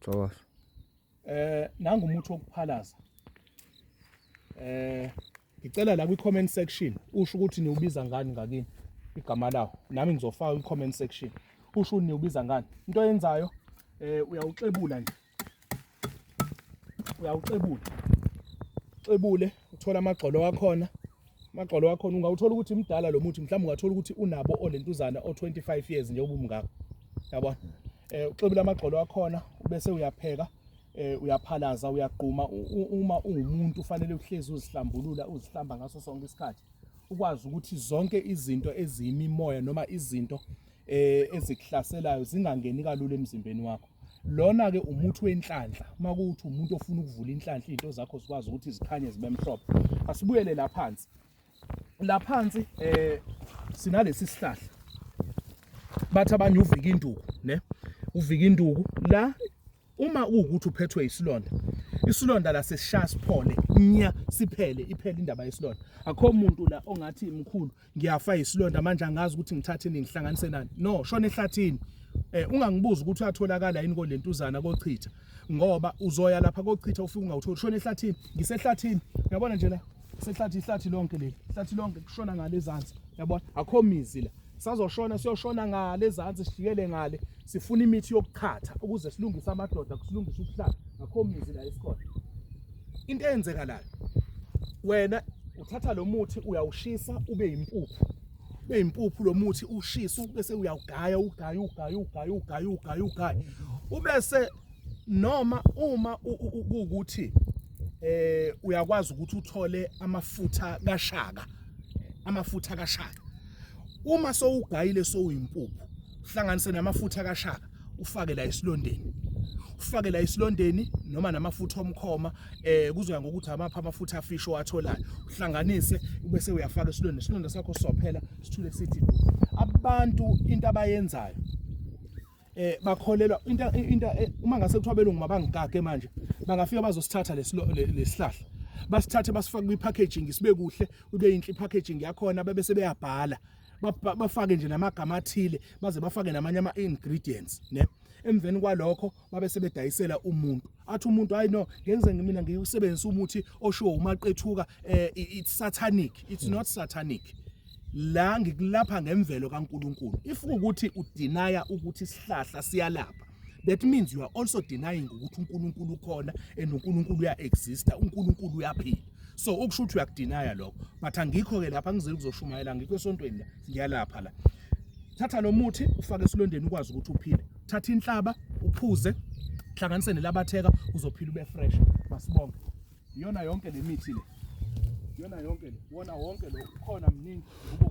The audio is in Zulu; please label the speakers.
Speaker 1: Thokoza. Eh
Speaker 2: nangu umuthi wokuphalaza. Eh ngicela la kwi comment section usho ukuthi niwubiza ngani ngakini igama lawo. Nami ngizofaka kwi comment section. Usho ukuthi niwubiza ngani. Into yenzayo eh uyawuxebula nje. Uyawuxebula. Xebule uthola amagxolo wakhona Magxolo wakhona ungawuthola ukuthi mdala lo muthi mhlawumbe ungathola ukuthi unabo olentuzana o25 years nje ubumngaka. Yabona? Eh uxebile amagxolo wakhona bese uyapheka eh uyaphalaza uyaqhuma uma ungumuntu ufanele uhlezi uzihlambulula uzihlamba ngaso sonke isikhathi ukwazi ukuthi zonke izinto eziyimimoya noma izinto eh ezikuhlaselayo zingangeni kalula emzimbeni wakho lona ke umuthi wenhlanhla uma kuthi umuntu ofuna ukuvula inhlanhla into zakho sikwazi ukuthi zikhanye zibe mhlophe asibuyele la phansi la phansi eh sinalesi sihlahla bathi abanye uvika induku ne uvika induku la uma ukuthi uphethwe isilonda isilonda la sesishaya siphole nya siphele iphele indaba yesilonda akho muntu la ongathi imkhulu ngiyafa isilonda manje angazi ukuthi ngithathe nini ngihlanganise nani no shona ehlathini eh ungangibuza ukuthi uyatholakala yini kolentuzana kochitha ngoba uzoya lapha kochitha ufike ungawutholi shona ehlathini ngisehlathini uyabona nje la sehlathi ihlathi lonke leli ihlathi lonke kushona ngale ezansi yabona akho mizi la sazoshona siyoshona ngale ezansi sifikele ngale Sifuna imithi yokuchatha ukuze silungise amadoda kusilungise ubuhlanga ngakho mizi la esikhona. Into eyenzeka la wena uthatha lo muthi uyawushisa ube yimpuphu ube yimpuphu lo muthi ushisa bese uyawugaya ugaya ugaya ugaya ugaya ugaya ugaya ubese noma uma ukuthi eh uyakwazi ukuthi uthole amafutha kashaka amafutha kashaka uma sowugayile sowuyimpuphu uhlanganise namafutha kashaka ufake la esilondeni ufake la isilondeni noma namafutha omkhoma eh kuzoya ngokuthi amapha amafutha afisho watholayo uhlanganise ubese uyafaka isilonda isilonda sakho sophela sithule sithi abantu into abayenzayo eh bakholelwa into into eh, uma ngase kuthiwa belungu mabangikake manje bangafika bazosithatha lesihlahla basithathe basifake kwi packaging sibe kuhle ube yinhle packaging yakhona bebe sebeyabhala bafake nje namagama athile baze bafake namanye ama ingredients ne emveni kwalokho babe sebedayisela umuntu athi umuntu hayi no ngenze ngimina ngiwusebenzisa umuthi oshiwo umaqethuka eh, it's satanic it's mm. not satanic la ngikulapha ngemvelo kaNkuluNkulu if ukuthi udinaya ukuthi isihlahla siyalapha that means you are also denying ukuthi uNkulunkulu ukhona and uNkulunkulu uya exista uNkulunkulu uyaphila so ukusho ukuthi uyakudinaya lokho but angikho ke lapha ngizile kuzoshumayela ngikho esontweni la ngiyalapha la thatha lo muthi ufake esilondeni ukwazi ukuthi uphile thatha inhlaba uphuze hlanganise nelabatheka uzophila ube fresh masibonke iyona yonke le mithi le iyona yonke le wona wonke lo ukhona mningi